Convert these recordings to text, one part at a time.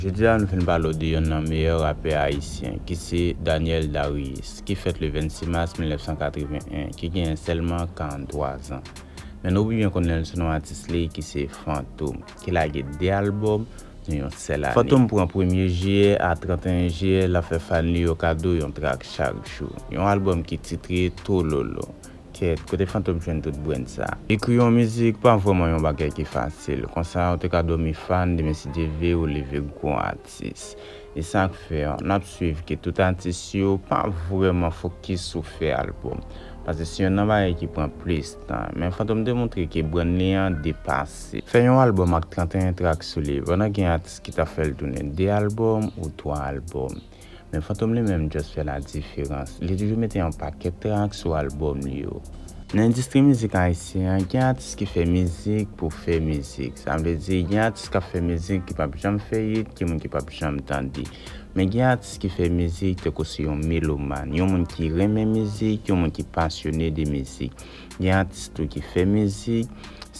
Jodi a nou vin pale w de yonn nan meyè rapè ayisyen ki se Daniel Darius ki fèt le 26 mas 1981 ki genyen sèlman 43 zan. Men nou pi byen konnen l sou non atis li ki se Fantom ki lage 2 albòm nan yon sèl ane. Fantom pran premye jiyè a 31 jiyè l ap fè fan li yo kado yon trak chak jou. Yon albòm ki titre Tololo Kèt, kote Fantom jwenn tout brenn sa? Ekri yon mizik pa vrèman yon bagay ki fasil, konsa ou te ka dòmi fan demen si Dye ve ou leve gwo atis. E sak fè, n ap swiv ke tout atis yo pa vrèman fokis sou fè albòm, pase se yonn nan bagay ki pran plis tan. Men Fantom te montre ke brenn li an depase. Fè yon albòm ak 31 trak sou li, pandan gen atis ki ta fè l tounen 2 albòm ou 3 albòm. Men Fantom li menm just fè la diferans. Li toujou mete yon pakèt track sou album li yo. Nan endistri mizik ayisyen an, gen atis ki fè mizik pou fè mizik. Sa vle di, gen atis k ap fè mizik ki p ap janm fè yit, ki moun ki p ap janm tande. Men gen atis ki fè mizik tankou se yon meloman, yon moun ki renmen mizik, yon moun ki pasyone de mizik. Gen atis tou ki fè mizik,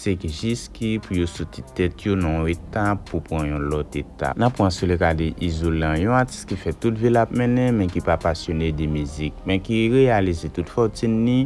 se k jis ki pou yo soti tèt yo nan yon eta pou pran yon lòt eta. N ap pran sou le ka de Izolan, yon atis ki fè tout vi l ap mennen men ki pa pasyone de mizik, men ki reyalize tout fòtin li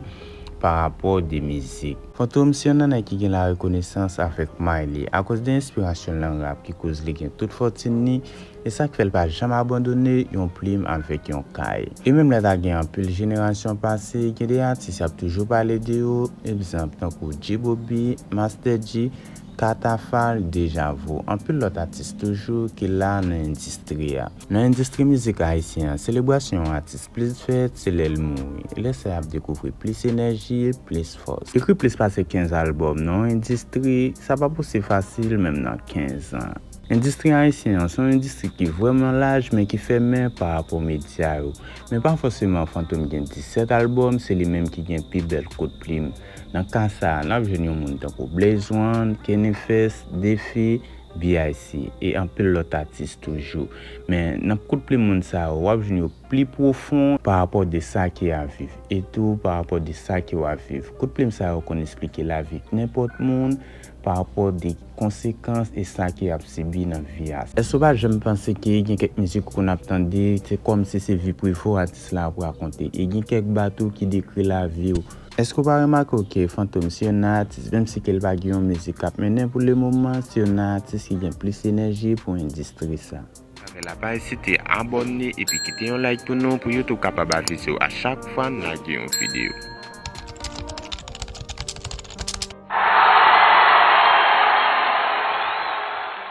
pa rapò de mizik. Fantom se yon nanay ki gen larekonesans avèk may li. Akoz de enspirasyon l nan rap ki koz li gen tout fòtin li, E sa k fè l pa janm abandone yon plim avèk yon kay. E menm lè ta gen anpil jenerasyon pase, gen de atis y ap toujou pale de yo, egzanp tankou G-Bobby, Mastè Dji, Katafal, Dejavo, anpil lòt atis toujou ki la nan endistri a. Nan endistri mizik ayisyen an, selebrasyon yon atis plis fèt se lè l mouri. E lè sa y ap dekouvri plis enèji, plis fòs. Ekri plis pase 15 albòm nan yon endistri, sa pa posib fasil menm nan 15 an. Endistri ayisyen an se yon endistri ki vrèman laj men ki fèmen pa rapò medya yo. Men pa fòseman Fantom gen 17 albòm, se li menm ki gen pi bèl kout plim. Nan ka sa a, n ap jwenn yon moun tankou Blaze One, Kennyfest, D-Fi, BIC. E anpil lòt atis toujou. Men, nan kout plim moun sa yo, w ap jwenn yo pli pwofon pa rapò de sa ki ap viv e tou pa rapò de sa ki w ap viv. Kout plim sa yo konn esplike lavi nenpòt moun. pa rapò de konsekans e sa ke ap sibi nan vi a. Èske ou pa janm panse ke gen kèk mizik ou konn ap tande, se kòm si se vi prive w atis la ap rakonte? E gen kèk ba tou ki dekri lavi w. Èske ou pa remake w ke Fantom se youn nan atis, menm si ke l pa gen yon mizik k ap mennen pou le moman, se youn nan atis ki gen plis enèji pou endistri sa? Pase la pa ezite abòne epi kite yon like pou nou pou YouTube kapab avise w a chak fwa n lage yon videyo.